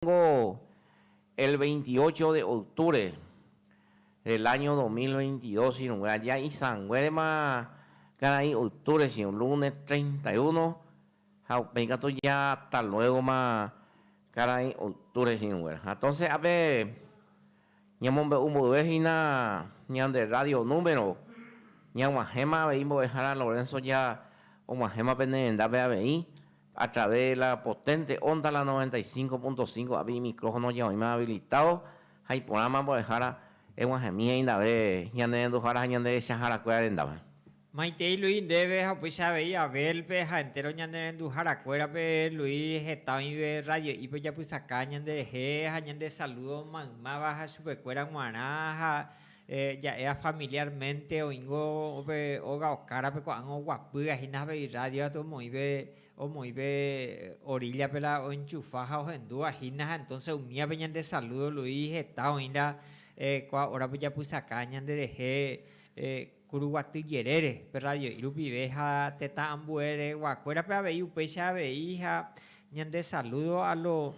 Ningo el veintiocho de octubre del año dos mil veintidós irũngue aja isãnguérema karai octubre che un lunes treinta y uno ha upéi katu jata luégoma karai octubre che irũnguéra. Entonce ápe. Ñamombe'u mboyve hína ñande rrádio número ñag̃uahẽma avei Mbo'ehára Lorenzo ja og̃uahẽma pene rendápe avei a través de la potente onda la 95.5 ápe imicrófono ja oĩma habilitado ha iporãma Mbo'ehára eg̃uahẽmi he'índave ñanerenduhára ha ñanderechahárakuéra rendápe. Maitei Luis ndéve ha upéicha avei Abel-pe ha entéro ñanerenduharakuérape Luis heta oĩve radio'ípe ojapysaka ñanderehe ha ñande salúdo maymáva ha chupekuéra g̃uarã ha ja'éva familiármente oĩngo upe óga okárape ko'ág̃a oguapýga hína avei rádio aty omoĩve omoĩve oríllape la oenchufa ha ohendúva hína ha entónse umívape ñande salúdo Luis heta oĩla kua órape ojapysaka ñanderehe Kuruguaty jerére, pe radio'i rupive ha tetã ambue regua kuérape avei upéicha avei ha ñande saludo a lo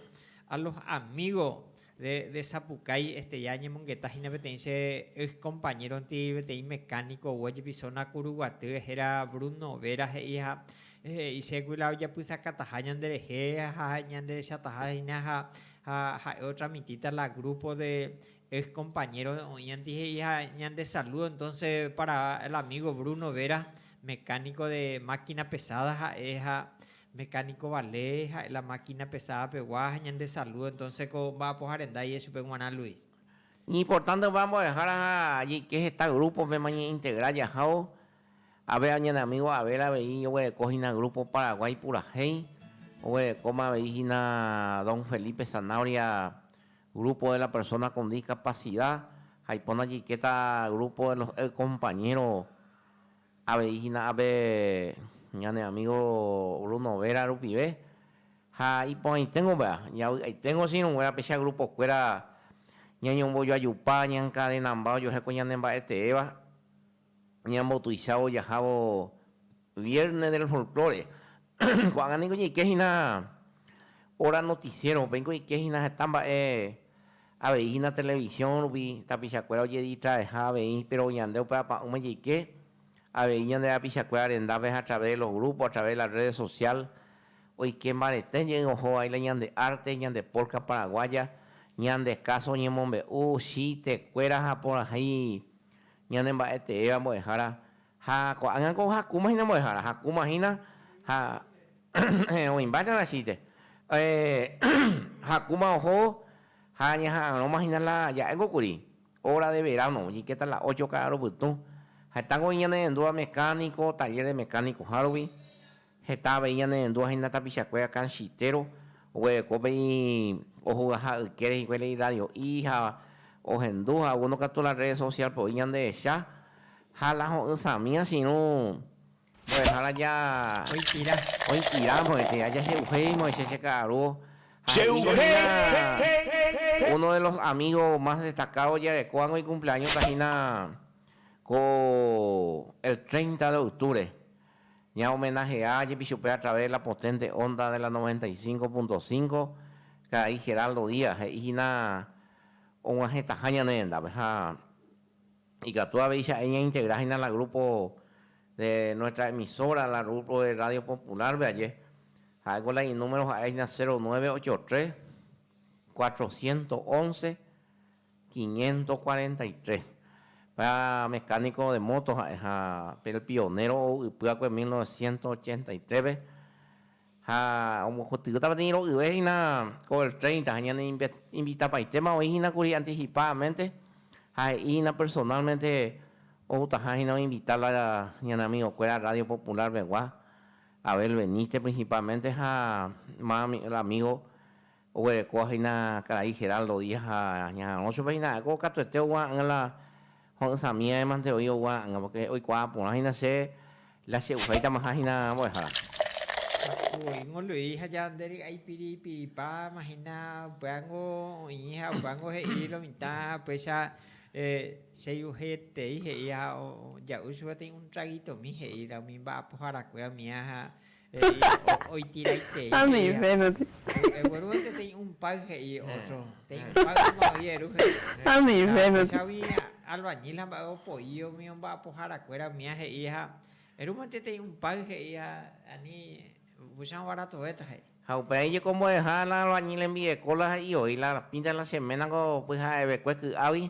a los amigo de de Sapukái este ya añemongeta hína peteĩ che ex compañero nti peteĩ mecanico gua jepi zona Kuruguaty hera Bruno Vera he'i ha he'i che gui la ojapysakataha ñande rehe ha ñande rechataha hína ha ha ha'e otramitita la grupo de Ex compañero oĩ anti he'i ha ñande saludo entonce para el amigo Bruno Vera mecanico de máquina pesada ha'e ha mecanico vale ha'e la máquina pesada pegua ha ñande saludo entonce ko mba'apoharendaiye chupe guarã Luis. Ñiportante upe ambo'ehára ha jeike heta grupo pema ñeintegra jahávo ave añane amigo Abel avei oguereko hina grupo Paraguay purahéi oguerekóma avei hina don Felipe Zanabria Grupo de la persona con discapacidad ha ipóna jaikéta grupo de los el compañero avei hína ápe ñane amigo Bruno Vera rupive ha iporãiténgo péva javy'aiténgo che irũnguéra péicha grupo kuéra ñañombojoajupa ñaencadenamba ojohéko ñanemba'eteéva ñambotuichávo jahávo Viernes del Folklore. Ko'ág̃a ningo ñaike hína Hora Noticiero-pe, ningo ñaike hína heta mba'e avei hína televisiõ rupi, tapichakuéra ojedistraeha avei, péro ñande upe apa'ỹme jaike avei ñande rapichakuéra rendápe ha a través de los grupos, a través de la redes social, oike mbarete jey oho vaíla ñande arte, ñande polka paraguaya, ñande káso oñemombe'u, chiste, kuéra ha porãhéi Ñane mba'e teéva mbo'ehára ha ko'ág̃a ko hakúma hína mbo'ehára, hakúma hína ha oĩmba Ñarachíte. Hakúma oho ha ñaha'arõma hína la ja'éngo kuri óra de veráno oñikéta la ócho ka'aru pytũ. Hetángo oĩ ñane rendúva mekánico, taller de mecánico-hárupi, Heta avei ñanendu ahina tapichakuéra kanchitero oguereko pe ojugaha yke rehikue la irradio'i ha ohendu ha uno katu la rrede sosiálpe oĩ ñanderecha ha la ho'ysãmi asirũ mbo'ehára ja oĩtira mbo'etéva jache'uhéimo che che ka'arúo ha he'íko hína uno de los amígo más destakádo ojerekóvango ikumpleáñota hína ko el treinta de octubre. Ñahomenaje'a jepi chupe a través de la potente onda de la 95.5, Karai Geraldo Díaz he'i hína og̃uahẽtaha ñane rendápe ha ikatu avei cha'e ñaintegra hína la grupo de nuestra emisora, la grupo de Radio Popular-pe aje. Ha'éko la inúmero ha'e hína 0983 411 543. Pe mecánico de moto ha'eha pe pionero ou ypyakue 1983-pe ha ombokotyvýta peteĩ ro'yve hína ko el 30 ha ñane invitapaitéma oĩ hína kuri anticipadamente ha he'i hína personalmente outaha hína oinvita la ñane amigokuéra Radio Popular pegua, Abel Benítez principalmente ha más el amigo Oguerekóva hína karai Geraldo Díaz ha ñaharõ chupe hína ha'éko katuete oguara'ỹva la ho'ysãmi aémante oĩ oguara'ỹva, pórke oikuaa porã hína che la che'uháitamaha hína mbo'ehára. Japu'õingo Luis ha ñande ry'ái piripiripáma hína upévango oĩ ha upévango he'i lo mitã péicha cheiujetei he'i ha ja'u chupe peteĩ un traguitomi he'i la umi mba'apoharakuéva mía ha He'i oitiraitei he'i. Ha upéi jeko ombo'eha la albañil hembi'eko la he'i oĩ la pinta la semana ko pyha'evekue ky'águi.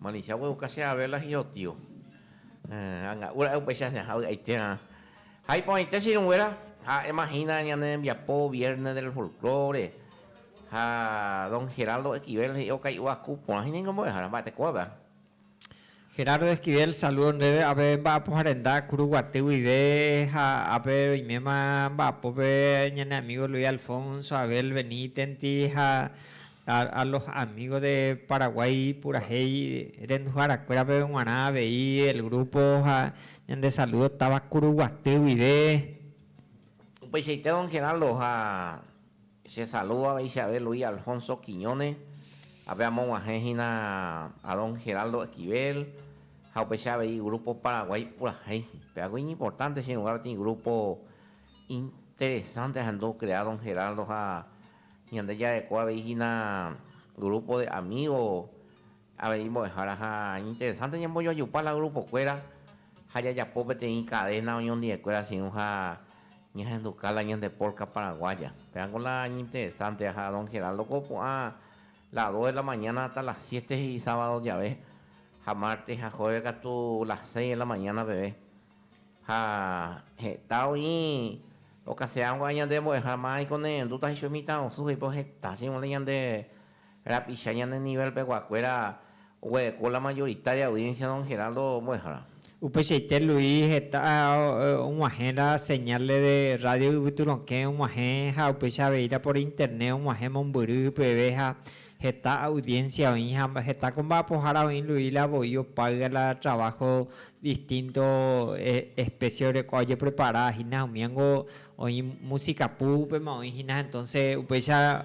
Malincia ogueru casi a vela y otio. Anga'u ra'e upéicha añaha vy'aiterã. Ha iporãite che irũnguéra, ha'éma hína ñane rembiapo Viernes del Folklore, ha don Geraldo Esquivel he'i okai'uva ku porã hína ningo mbo'ehára mba'etekópe. Gerardo Esquivel saludo ndéve ape mba'apoha renda Kuruguaty guive ha ape oiméma mba'apópe ñane amigo Luis Alfonso, Abel Benítenti ha a los amigos de Paraguay purahéi renduhára kuérape g̃uarã avei el grupo ha ñande saludo táva Kuruguaty guive. Upeichaite don Geraldo ha. Chesaludo aveichave Luis Alfonso Quiñones, ha pe amog̃uahẽ hína a don Geraldo Esquivel, ha upecha avei Grupo Paraguay purahéi. Peagui iñimportánte chirũga peteĩ grúpo interesánte ahendu okrea don Geraldo ha ñande jarekóva avei hína grúpo de amígo Avei mbo'ehára ha interesante ñambojoajupa la grupokuéra ha jajapo peteĩ cadena oñondive'ekuéra che irũ ha ñahenduka la ñande polka paraguaya. Pérango la ñinteresante ha don Geraldo ko opu'ã las dos de la mañana hasta las siete he'i sábado jave ha martes ha jueves katu las seis de la mañana peve ha heta oĩ okase'áva ñande mbo'ehára mávai ko ne'ẽrendúta he'ichugui mitãrusu he'i peve heta che irũ la ñande Rapicha ñane nivel peguakuéra oguereko la mayoritaria audiencia don Geraldo mbo'ehára. Upeichaite Luis heta og̃uahẽra señales de radio yvyturõkẽ og̃uahẽ ha upéicha aveíra por internet og̃uahẽ mombyry peve ha heta audiencia oĩ ha heta ko mba'apohára oĩ Luis la voi opáyga la trabajo distinto especie oreko ojeprepara hína umíango oĩ música púpema oĩ hína entonce upéicha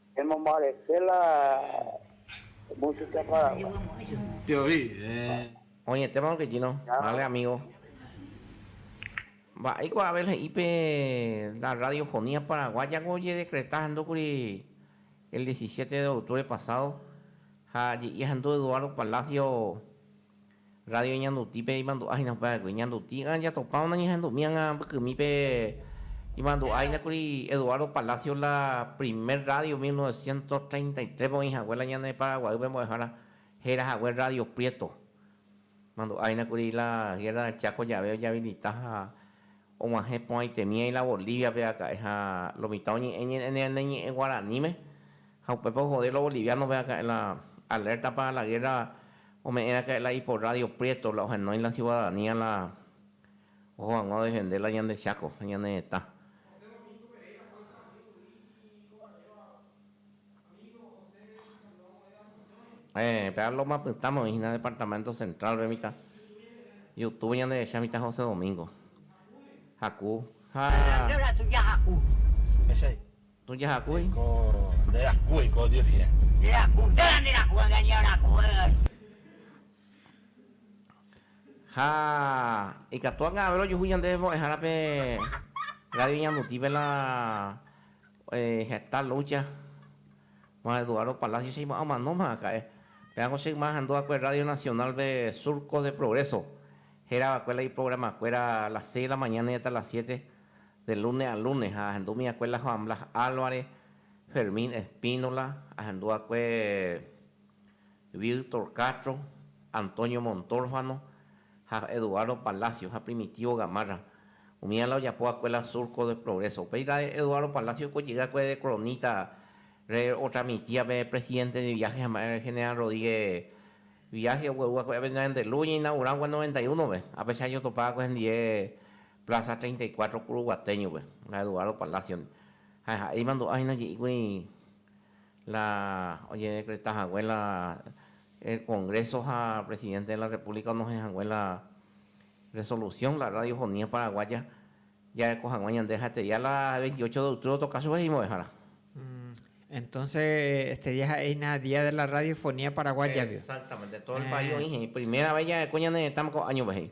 Emombarete la música paraguaya. Oñetéma don Quequino, vale amigo. Mba'éiko Abel he'i pe la radiofonía paraguaya-ko ojedecreta handúkuri el diecisiete de octubre pasado ha je'i ahendu Eduardo Palacio Radio Ñandutípe imandu'a hína upe aregui. Ñandutígã jatopa onañehendu'mi ágã mbykymípe imandu'a hína kuri Eduardo Palacio la primer radio mil novecientos treinta y tres-pe oĩ hague la ñane Paraguaýpe mbo'ehára héra hague Radio Prieto. Imandu'a hína kuri la Guerra del Chaco jave ojabilita ha Og̃uahẽ porãitemíva ila Bolíviape raka'e ha lo mitã oñe'ẽ ñane ñe'ẽ guaraníme, ha upépe ohode lo boliviánope raka'e la alerta para la guerra ome'ẽ raka'e la ipo rrádio Prieto la ohenói la ciudadanía la oho hag̃ua odefende la ñande Cháko ha ñane retã. Héẽ, péva Loma Pytãme oĩ hína Departamento Central-pe mitã. Youtube ñanderecha mitã José Domingo. Haku ha. Añandu la tuja haku. Echei. Tuja haku y. Ko nde raku eiko Dios rire. Nde raku, nde la nde raku ha ñañe raku y. Ha ikatu angave rojuhu ñande mbo'ehára pe Radio Ñanduti pe la. Heta lucha ma Eduardo Palacio che ima omanóma haka'e. Pérango che yma ahendu va'ekue Radio Nacional pe Surco de Progreso héra va'ekue la iprograma kuéra a las seis de la mañana y hasta las siete de lunes a lunes ha ahendu umi va'ekue la Joan Blas Alvarez, Fermín Espínola, ahendu va'ekue Bill Torcatro, Antonio Montorfano ha Eduardo Palacio ha Primitivo Gamarra. Umíva la ojapo va'ekue la Surco de Progreso. Upéira Eduardo Palacio ko jey va'ekue de cronita re otramitia pe presidente de viaje ha'e ma'e General Rodríguez viaje ogueru va'ekue ape ñande luz oñeinaugura va'ekue noventa y uno pe apeche año otopa va'ekue hendie Plaza treinta y cuatro Curuguateño pe la Eduardo Palacio ndi ha ha'e imandu'a hína je'íkuri la ojedekreta hague la el Congreso ha Presidente de la República onohẽ hague la resolución la Radio Fonia Paraguaya jareko haguã ñande ha Estedia la veintiocho de octubre otoka chupe hemimbo'ehára. Entonces Estedia ha'e hína día de la Radio Fonia Paraguaya-pe. Exactamente, todo el país oĩ he'i, primera vez jareko ñane retãme ko añope he'i.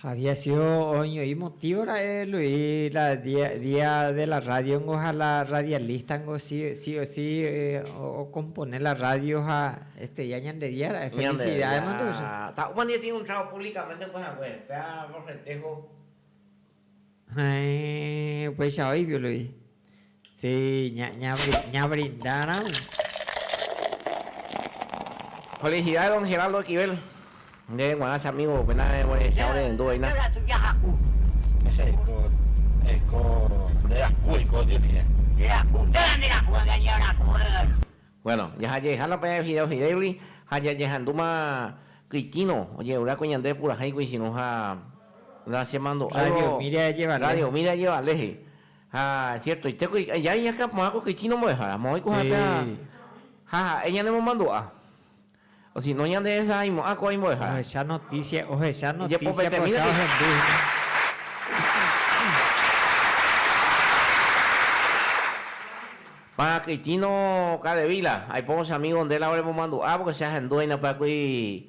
Ha viacio oñoĩ motivo ra'e Luis la dia de la radio-ngo ha la radialista-ngo si o si okompone la radio ha estudia ñande dia ra'e. Felicidad emante pe che. Ta opa nde tĩi un trago públicamente opuehague, péa corretejo. Heẽ, upéicha oĩvi Luis. Si, ñabrinda ramo. Felicidades don Geraldo Esquivel, ndéve g̃uarã che amigo pena evorechávo rehendu oĩna. Ejapo eiko nde raku eiko Dios ndive. Bueno, jajajeha la pe fideo Fidelli ha jajehandúma Cristino ojeruráko ñande purahéi kuichirũ ha la chemandu'áivo Radio Miri ajevale he'i. Ha siertoitéko aja iñakã porã ko kytĩ rombo'ehára, moõi ko ha'épe ha ha'e ñanemomandu'a, osino ñandehesahaimo'ã ko imbo'ehára. Ohecha notísia, ohecha notísia pocha ohendu hína. Porã kytĩ no, Kadevíla, aipóvo che amígo nde la oremomandu'a, pórke che ahendu aínapy'akui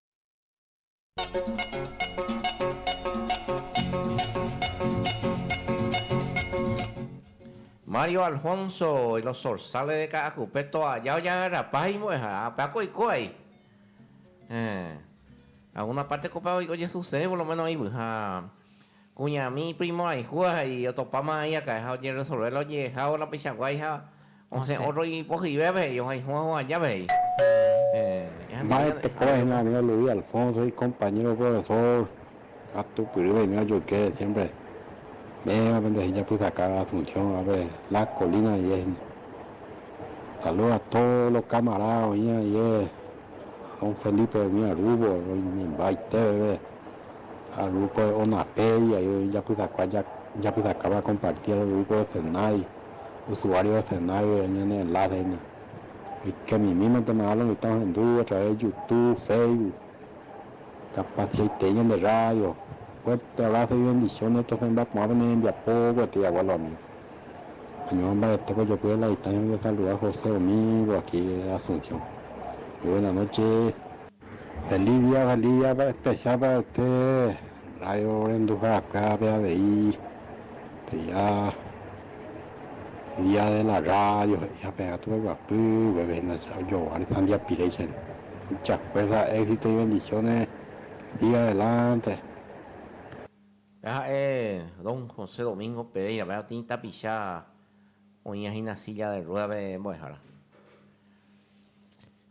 Mario Alfonso y los zorzales de Ka'ajupe toalla ojagarrapa ha imo'ẽhára. Ha upévako oiko vai. Héẽ. Alguna parte ko upéva ojesusẽ por lo menos oĩvyha. Kuñami iprimo'aihúva ha ijotopáma iakãe ha ojeresolve la oje'ehávo la peichakuaaháiva osẽ ótro ipohyvépe he'i ohayhúva hũ ajápe he'i. Mba'e tekoaína anive Luis Alfonso ikompañéro profesór katu pyry venía ojoyke siémpre mévape nde hijapysakãva Asunciónvape La Colina ndive hína. Salúdo a tódo lo kamaráda oĩva ndive, don Felipe umi arúvo roimembaitéveve. ha grupo de Onapei, ahí oĩ japysakua japysakáva compartir el grupo de Senai, usuario de Senai oĩ añane enlace aína, oikemimímatema hálo mitã ohendu a través de Youtube, Facebook, capaciaitei ñande radio, fuerte abrazo y bendiciones tosẽ mba'aporã pene rembiapo gueteri agua los amigos, añorã mbaretépe ojopy de la distancia oñesaluda José umívo aquí de Asunción, muy buena noche. Valdivia, Valdivia pehecha paraete radio renduha'akue avei peja día de la radio he'iha pe'ẽrã tuveguapy guépe hína che ajogua re Tambiapirei che mucha fuerza éxito y bendiciones siga adelante. Pe ha'e Don José Domingo Pereira pe otĩ tapicha oĩva hína silla de rueda pe mbo'ehára.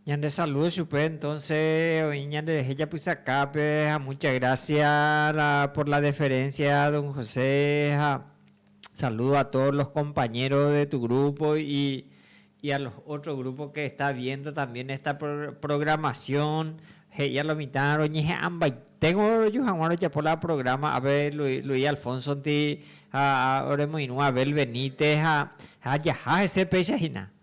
Ñande saludo chupe entonce oĩ ñande rehe japysakápe ha mucha gracia la por la deferencia don José ha saludo a todos los compañeros de tu grupo y y a los otro grupo que está viendo también esta programación he'íva lo mitã roñehe'ãmbaiténgo roju hag̃ua rojapo la programa ápe Luis Alfonsonti ha oremoirũ Abel Benítez ha ha jaha hese péicha hína.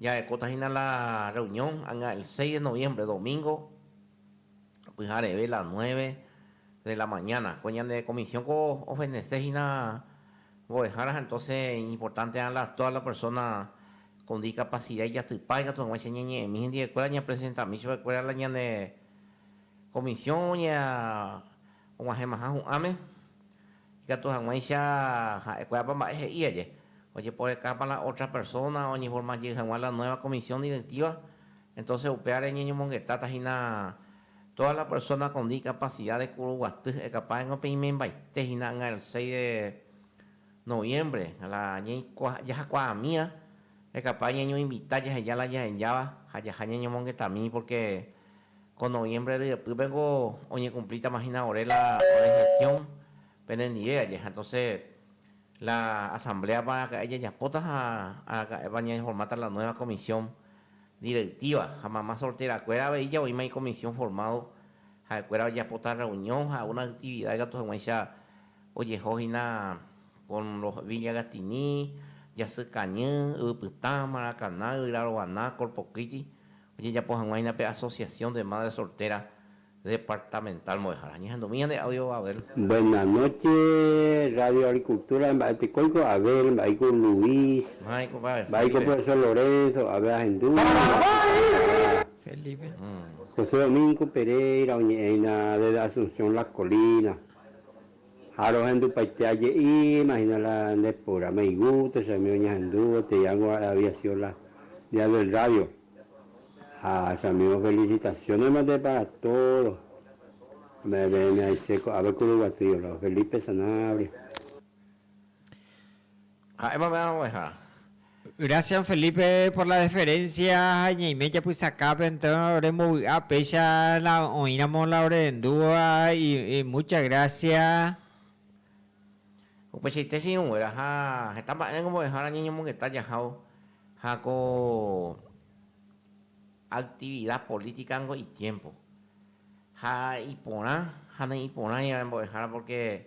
Jarekóta hína la reunión anga el seis de noviembre, domingo, pyhareve la nueve de la mañana. Ko ñane comisión ko ofendese hína mbo'ehára ha entonce iñimportante'arã la todas las personas con discapacidad ijatypa ikatu hag̃uáicha ñañe'ẽmi hendivekuéra ñapresentami chupekuéra la ñane comisión ña Og̃uahẽmaha hu'ãme, ikatu hag̃uáicha ha'ekuéapa mba'e he'i aje, ojeporekápa la ótra persóna oñeforma jey hag̃ua la nuéva komisión direktíva, entóse upévare ñañomongetáta hína tóda la persóna kon dikapasida de kuru guaty ha'ekapáengo pe imembaite hina'ỹa el seis de noviémbre la jajakuaamíva hekapáe ñañoinvita jaheja la jahenjáva ha jaha ñañomongetamíi pórke Ko noviembre ryepýpe ko oñekumplítama hína ore la ore gestión penendive aje. Ha entonces la asambléapa araka'e jajapóta ha araka'épa ñañeformáta la nueva comisión directiva. Ha mama solterakuéra avei javoíma icomisión formado, ha'ekuéra ojapóta reunión ha alguna actividad ikatu hag̃uáicha ojeho hína con los Villagatini, Jasy Kañy, Yvypytã, Maracaná, Yvyrarovana, Corpocliti, Ojejapo hag̃uáina pe Asociación de Madres Solteras Departamental Mbo'ehára. Ñahendu'mi ñande audio Abel. Buena noche radio agricultura mba'e tekóiko Abel mba'éiko Luis Mba'éiko pave mba'éiko Felipe. profesor Lorenzo Abel ahendu Felipe. José Domingo Pereira oñe'ẽhína desde Asunción Las Colinas. Ha rohendupaite aje'i, imagina la nde pura meigu techami oñehendu gotei ángo ha'e había sido la día del radio. Ha chamigo felicitaciones mante para todo me ve'ẽme aise ko'ápe Kuruguatrio lao Felipe Sanabria. Ha'e mame ha oveja. Gracias Felipe por la deferencia ha ñaime japysakápe entonces ore mbovy'a péicha la oĩramo la orerendúva y mucha gracias. Upeichaite che irũnguéra ha heta mba'e ningo mbo'ehára ñañomongeta jahávo ha ko actividad política ningo itiempo ha iporã ha ne'iporã ñande mbo'ehára porque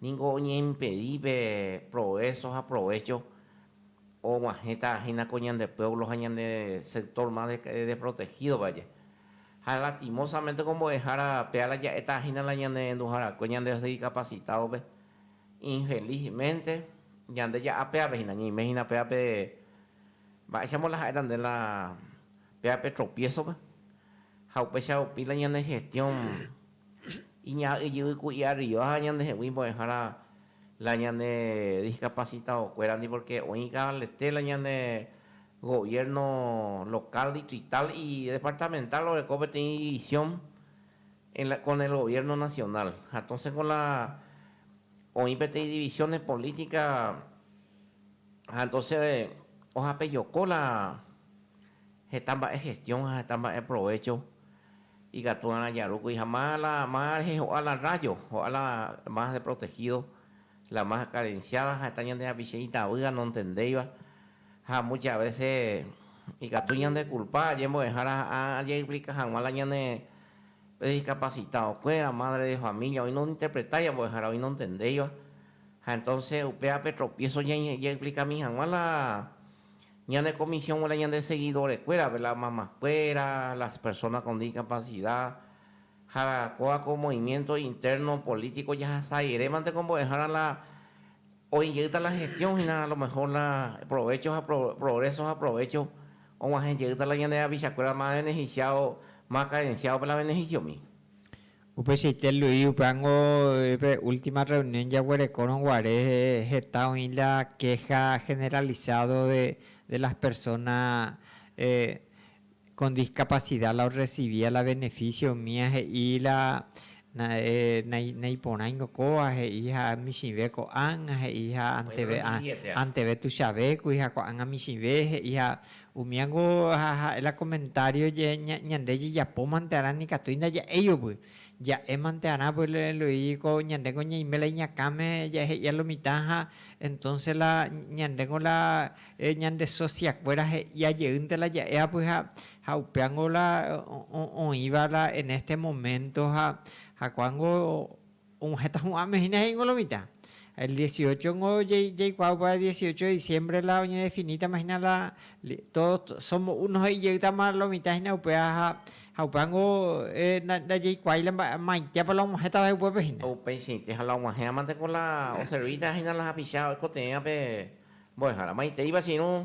ningo oñeimpedi pe progreso ha provecho oguahẽta hína ko ñande pueblo ha ñande sector más desprotegido vaje. Ha lastimosamente ko mbo'ehára péva la ja'éta hína la ñane renduharakue ñande discapacitado pe, infelizmente yande ja'a pévape hína, ñeime hína pévape mba'éichamo la ha'éta nde la pévape tropiezo pe ha upéicha rupi la ñande gestión Iñaha ijyvy ku'i arriba ha ñande hegui mbo'ehára la ñane discapacitado kuérandi porque oĩ kavaleté la ñane gobierno local, distrital y departamental oreko peteĩ división en la con el gobierno nacional ha entonces con la oĩ peteĩ divisiones política ha entonces ojapejoko la heta mba'e gestión ha heta mba'e provecho. Ikatu'arã jarúkuri ha má la má rehe ho'a la rrájo, ho'a la más deprotegído, la más karensiáda ha'éta ñande hapiche itavýva nontendéiva. Ha múcha vése ikatu ñandekulpa ñembo'ehára ha jaexplika hag̃ua la ñane prediskapasitadokuéra, mádre de família, oĩ nointerpretáiva ñambo'ehára, oĩ nontendéiva. Ha entónse upévape tropiéso jaexplikami hag̃ua la Ñane comisión g̃uarã ñande seguidorekuérape, la mamakuéra, las personas con discapacidad, ha kóva ko movimiento interno político jahasajerémante ko mbo'ehára la oĩ jeýta la gestión hína a lo mejor la provecho ha progreso ha provecho og̃uahẽ jeýta la ñande rapichakuéra más beneficiado, más carenciado pe la beneficiomi. Upeichaite Luis upe ángo pe última reunión jaguerekórõ guare heta oĩ la queja generalizado de las personas con discapacidad la orrecibía la beneficio umía he'i la naiporãingo kóva he'i ha michĩve ko'ág̃a he'i ha anteve tuichavékuri ha ko'ág̃a michĩve he'i ha Umíango ha ha'e la komentário ñande jejapómante arã nikatúi ndaja'éi ovy'a. Ja'émante arã Eloy ko ñandéngo ñaime la iñakãme jahe'ia lo mitã ha entonce la ñandéngo la ñande sosiakuéra he'ia jeýnte la ja'e apyha ha upéango la oĩva la en este momento ha ko'ángo Heta hu'ãme hína he'íngo lo mitã. El dieciochongo jaikuaa upéva dieciocho de diciembre la oñedefinítama hína la todos somos uno he'i jeýtama lo mitã hína upéva ha upévango ndajaikuaái la mba'eitépa la og̃uahẽta va'ekue upépe hína. Upeichaite ha la og̃uahẽmante ko la oservíta hína la hapicha oikotevẽva pe mbo'ehára. Maiteipa che irũ.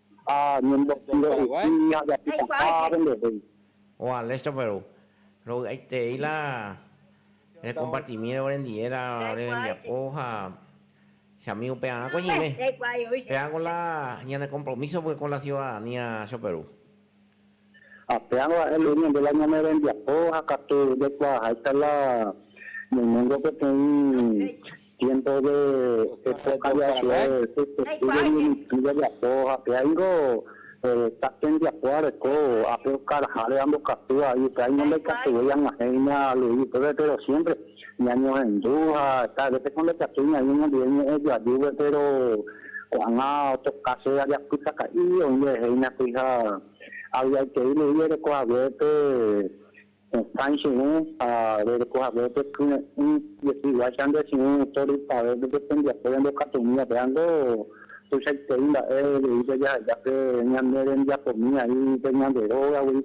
Ha ñembotyro'yhy ha japytaha rendevéi. Oa Lester Perú. Rovy'aiterei la rekompartimíre orendie la ore rembiapo ha che amígo pearãko ñeime. Péako la ñane kompromíso vykon la siudadanía cho Perú. Ha péarõ ha'e ley ñande la ñane rembiapo ha katu jaikuaaháita la ñaiméngo peteĩ tiempo de época ja'ekue pe testi de Ñemitỹ jajapo ha péa ingo ta tembiapo areko ápe okaráháre ambokatúva y upéa ingo ndaikatuvéi ag̃uahẽ iña ley upépe pero siempre Ñañohendu ha cada vez con ndajatúi ñaĩ ñandive ñe'ẽ joajúgui péro ko'ág̃a otro kásope ajapytaka'i oĩ reheína kuri ha avy'aitei lei rereko hague pe hesãi che irũ ha rereko hague pe kyre'ỹ jepi'uáicha nde che irũ autor ipave pe pe tembiapo ñandekatúmiva péva nde tuichaitei mba'e rei pe jaha'éiva pe ñane rembiapomíva ri pe ñande rógagui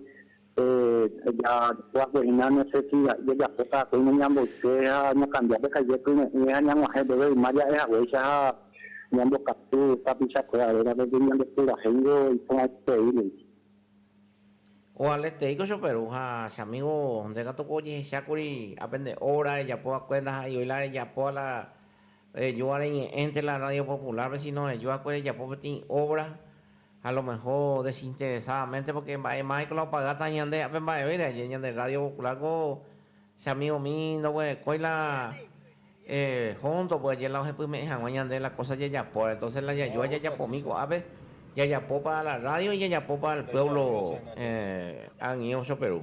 Jaguasu hína no sé si jajapóta akói noñamboyke ha ñokambia pe kaide pyre'ỹ ha ñag̃uahẽ upépe yma ja'e haguéicha ha ñambokatu tapicha kuéra réra porque ñande purahéingo iporãitei ningo. Ovaletei ko choperu ha che amigo nde katu ko ojehechákuri apende obra rejapo va'ekue ndaha'eivoi la rejapo a la Rejúva reñe'ẽnte la Rádio Popular-pe, síno rejuakue rejapo peteĩ óvra ha alomeho desinteresádamente, porke mba'e máiko la opagáta ñande ápe mba'evéire. Aje ñande Rádio Popular-ko che amigomi ndoguerekói la hóntopy aje la ohepyme'ẽ hag̃ua ñande la kósa jajapóre. Entónse la jajúva jajapomi ko'ápe, jajapo pára la rrádio, jajapo pára el puévlo ag̃uieve Choperu.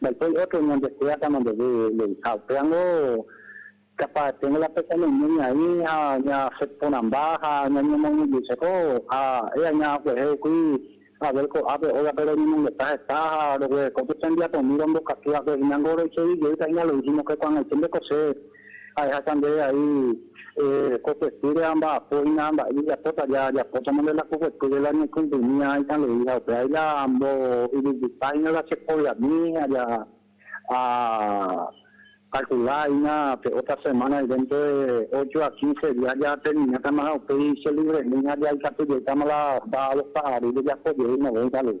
Ndaipóri ótro oñandeskuidákama ndeve leviha. Upéramo kapa'eténgo la pesañaime ñaĩ ha ñasẽ porãmba ha ñañemoñe'ẽjeiko. Ha'e aña oguehe upy Abel ko'ápe ógape roñemongeta heta ha roguereko pe tembiapomi rombokatúvape. Hína ngo roichejey jeýta hína lo'i hína oke kuãgaiténte ko che Ahechauka ndéve vai ko kuetýre amba'apo hína ha mba'e jajapóta. Jajapótama nde la ko kuetýre la ñaikumplimíva ita lei ha upévai la mboyvýta hína la cheprogrami ha akalkula hína pe ótra semána de dénto de ócho a kinse día jaterminátama ha upéi chelivremi ha jaikatujeýtama la sábado ha aru jajapo jey novénta lei.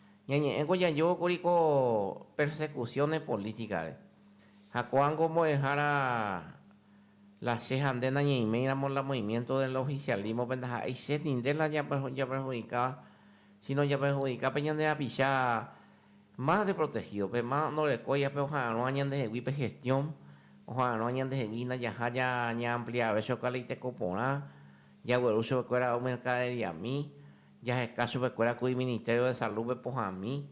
Ñañe'ẽko jajovo kuri ko persecuciones política-re, ha ko'ág̃a ombo'ehára la che ha nde nañeiméiramo la movimiento del oficialismo-pe ndaha'éi che ninde la japerhudikáva, síno japerhudika pe ñande rapicha más deprotegido, pe más ndorekói ha pe oha'arõa ñandehegui pe gestión, oha'arõa ñandehegui hína jaha ñaampliaveve chokaleiteko porã, jagueru chupekuéra omercaderiami. Jaheka chupekuéra ku iministério de salúpe pohãmi.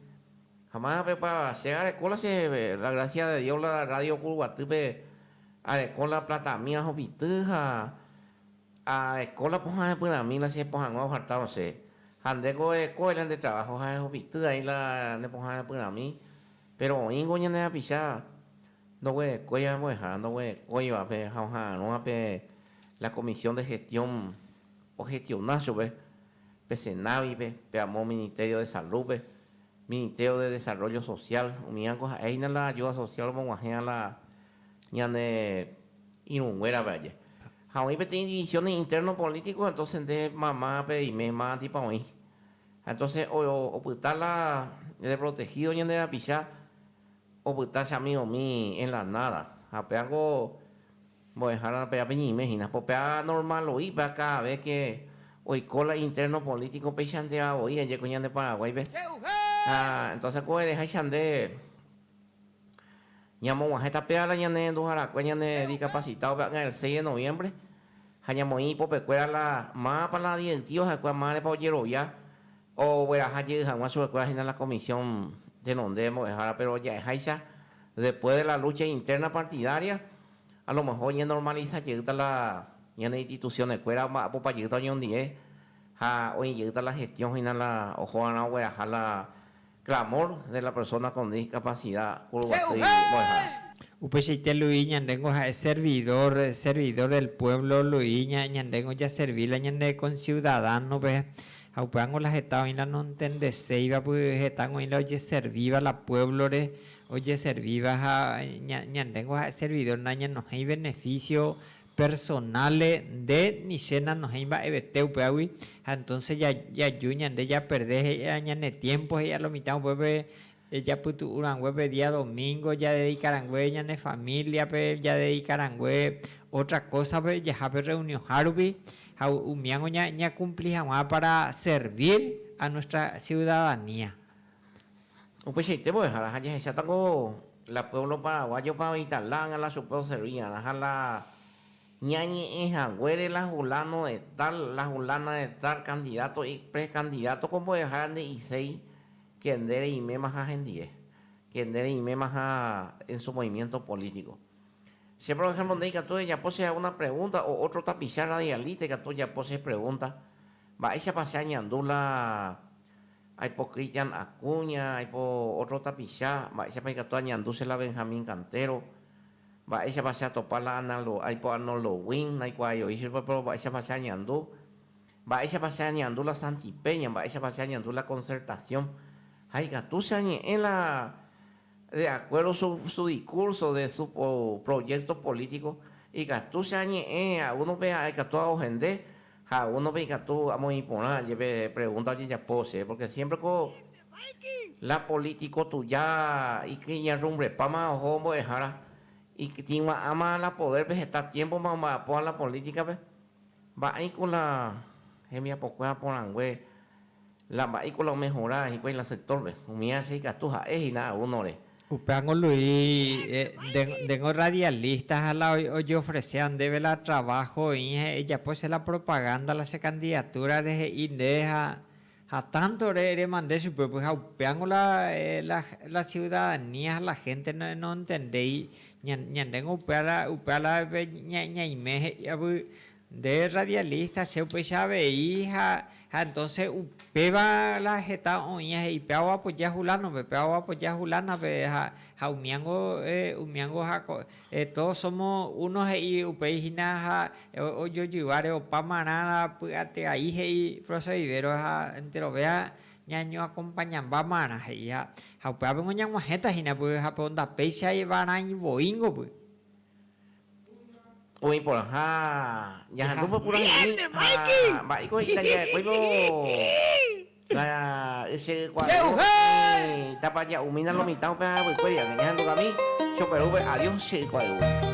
Ha mávapa che arekóla che la grásia de Dios la rrádio Kuruguatýpe areko la platami ahupity ha arekóla pohã hepyrãmi la che pohãngue oharta osẽ. Ha ndéko erekóvai la nde traváho ha ehupity aĩ la ne pohã hepyrãmi, péro oĩngo ñane hapicha ndoguerekói ambuehara ndoguerekóivape ha oha'arõva pe la Comisión de Gestión. Ojestiona chupe pe Senavi-pe, pe amo Ministerio de Salud-pe, Ministerio de Desarrollo Social, umíango ha'éhina la ayuda social omog̃uahẽva la ñane irũnguérape aje. Ha oĩ peteĩ divisiones internos políticos, entonces nde mama peime mávanteipa oĩ. Ha entonces opyta la reprotegido ñande rapicha, opyta che amigo-mi en la nada. Ha péva niko Mbo'ehára pe apeñeime hína. Po pe anormal oĩ, pe akãve que oiko la interno político peichanteva voi aje ko ñande Paraguáipe. Ha entonces ko ereháicha nde ñamoguahẽ tape la ñane renduharakue ñane discapacitado pe akã el seis de noviembre ha ñamoĩ ipopekuéra la mápa la di'ectivo ha'ekuéra márepa ojerovia Ogueraha jey hag̃ua chupekuéra hína la Comisión tenonde mbo'ehára, péro ja'eháicha después de la lucha interna partidaria, a lo mejor oñenormaliza jeýta la ñane institucionekuéra, omba'apopa jeýta oñondive ha oĩ jeýta la gestión hína la oho va'erã ogueraha la Clamor de la persona con discapacidad kurguasy mbo'ehára. Upeichaite Luis ñandéngo ha'e servidor, servidor del pueblo Luis ña, ñandéngo jaservi la ñane conciudadano-pe, ha upévango la heta oĩ la noentendeséiva, py hetángo oĩ la ojeservíva la pueblo-re, ojeservíva ha ña, ñandéngo ha'e servidor nañanohéi beneficio Personale nde ni che nanohẽi mba'evete upéagui ha entonce jaju ñande japerde he'íva ñane tiempo he'íva lo mitã upépe japytu'u rangue pe día domingo jadedika rangue ñane familiape jadedika rangue otra cósape jaha pe reunionha rupi ha umíango ñakumpli hag̃ua para servir a nuestra ciudadanía. Upeichaite mbo'ehára ha jahecháta ko la pueblo paraguayopa oĩta la ángela chupe oservigarã ha la ñañe'ẽ haguére la hulano de tal, la hulana de tal, candidato y precandidato ko mbo'ehára nde'iséi ke nde reimémaha hendie, ke nde reimémaha en su movimiento político. Che por ejemplo nde ikatu ejapo che hago una pregunta o otro tapicha radialista ikatu ojapo che pregunta mba'éichapa che añandu la Aipo Christian Acuña, aipo ótro tapicha, mba'éichapa ikatu añandu che la Benjamín Cantero, mba'éichapa che atopa la Analdo, aipo Arnoldo Win, naikuaái oĩ che rupa, péro mba'éichapa che añandu, mba'éichapa che añandu la Santi Peña, mba'éichapa che añandu la Concertación, ha ikatu che añe'ẽ la de acuerdo su, su discurso, de su proyecto político, ikatu che añe'ẽ a uno pe aekatúva ohende, Ha uno pe ikatu amoĩ porã jepe pregunta ojejapo che, porque siempre ko la político tuja ikyñarrumbrepáma oho mbo'ehára, ikytĩgua'ãma la poder pe heta tiempo ma omba'apoha la política pe, mba'éiko la hembiapokuéra porãngue La mba'éiko la omehora hikuái la sector-pe? Umi asia ikatu ha'e hina a uno-re. Upéva angolui nde ngo radialista ha la ojeofresea ndéve la trabajo oĩ ha ejapo che la propaganda la che candidatura rehe'i nde ha ha tanto ore remande chupe pyha upéva ngo la la ciudadanía ha la gente noentendéi ña ñande ngo upéva la upéva la ñaime he'i avy Nde radialista che upeicha avei ha ha entonce upéva la heta oĩ ha he'i pe ao apoya a hulanope, pe ao apoya a hulanape ha ha umíango umíango ha ko todos somos uno he'i upéi hína ha ojojyváre opáma rã la py'ateai he'i profesor Rivero ha enterovea ñañoakompañambáma rã he'i ha ha upéva piko ñag̃uahẽta hína py'ape ondapeichaiva rã ivoíngopy. Oĩ porãha jahandu pokurahe'ỹi ha mba'éiko he'i la ja'ekuéivo la ysykuae'ỹi tapa ja'umína lo mitã upe arapykuéri ág̃a jahandugami Choperúpe Adiós Ysykuae'ỹi.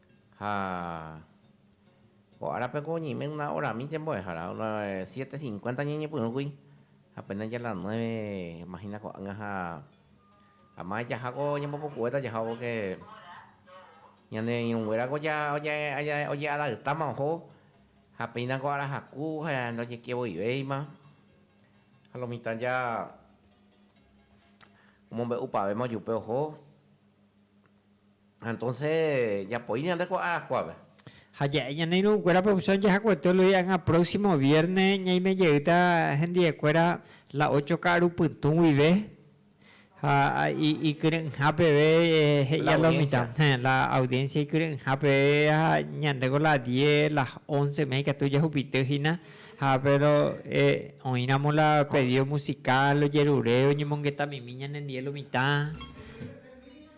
Ha ko árape ko oñeime una orami ñembo'ehára, una siete cincuenta ñañepyrũkuri, ha pene ya la nueve imagina ko'ág̃a ha ama jaha ko ñambopukuéta jaha porque ñane irũnguéra ko ja oje'adaptáma oho ha péina ko ára haku ha ndojekivoivéima, ha lo mitã ja omombe'upavéma ojupe oho. Ha ja'e ñane irũnguérape opción jahakuete olohi'anga próximo vierne ñaime jeýta hendiekuéra la ocho ka'aru pytũ guive ha ikyre'ỹha peve he'i a la mitad, héẽ, la audiencia ikyre'ỹha peve ha ñandéko la diez, las once mehe ikatu jahupity hína ha péro oĩramo la pedido musical ojerure oñemongetamimi ñanendie lo mitad.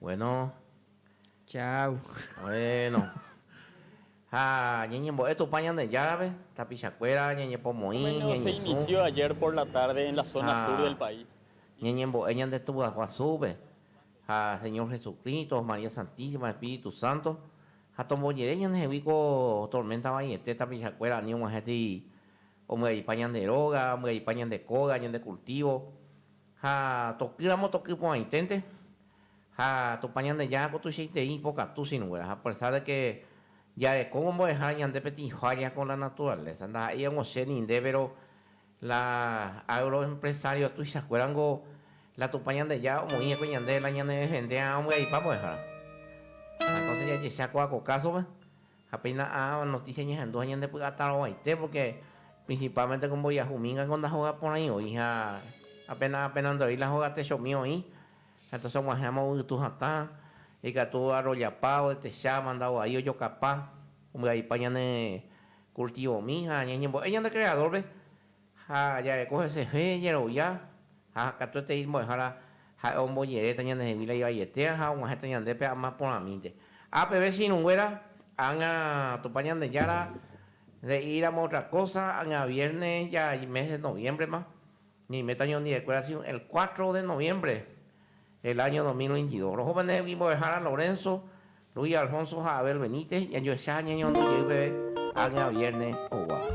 Bueno. Chau. Bueno. Ha ñeñembo'e Tupã Ñandejárape, tapichakuéra ñañepomoĩ, ñañesũ. Ha ñeñembo'e ñande Tupãguasúpe, ha Señor Jesucristo, María Santísima, Espíritu Santo, ha tombojere ñandehegui ko tormenta vaiete tapichakuéra ani og̃uahẽtei ombyaipa ñande róga, ombyaipa ñande kóga, ñande cultivo, Ha tokýramo toky porãiténte, ha Tupã Ñandejára ko tuichaitei ipokatu sirũnguéra, ha apersa de ke jarekóvo mbo'ehára ñande peteĩ falla con la naturaleza, ndaha'éi og̃uahẽ ninde, péro la agroempresario tuichakuérango la Tupã Ñandejára omoĩ hikuái ñande la ñanedefende'arã ombyaipa mbo'ehára. Ha entonces jajecha kóva ko kásope, Ha péina ãva notísia ñahendu ha ñandepy'atarovaite, pórke prinsipálmente ko mboriahu mingango ndahoga porãi oĩ, ha apenas apenas ndo'éi la hóga techomi oĩ, ha tasog̃uahẽma ovytu hatã, ikatu arrojapa, odetecha, manda oai, ojokapa, ombyaipa ñane kultivomi ha ñañembo'e ñande Kreadórpe. Ha jareko hesefe jerovia, ha katuetei mbo'ehára Ha'e omboñeréta ñandehegui la ivaietéva ha og̃uahẽta ñandépe ama porãmínte. Ha peve che irũnguéra, ág̃a Tupã Ñandejára nde'íramo otra kósa, ág̃a viérne ja mes de noviémbrema, ñaiméta ñondiekuéra siu el cuatro de noviémbre, el áño dos mil veintidós. Roho pendehegui mbo'ehára Lorénso Luis Alfonso ha Abel Benítez jajoecha ha ñañemondo jey peve ág̃a viérnes oguápe.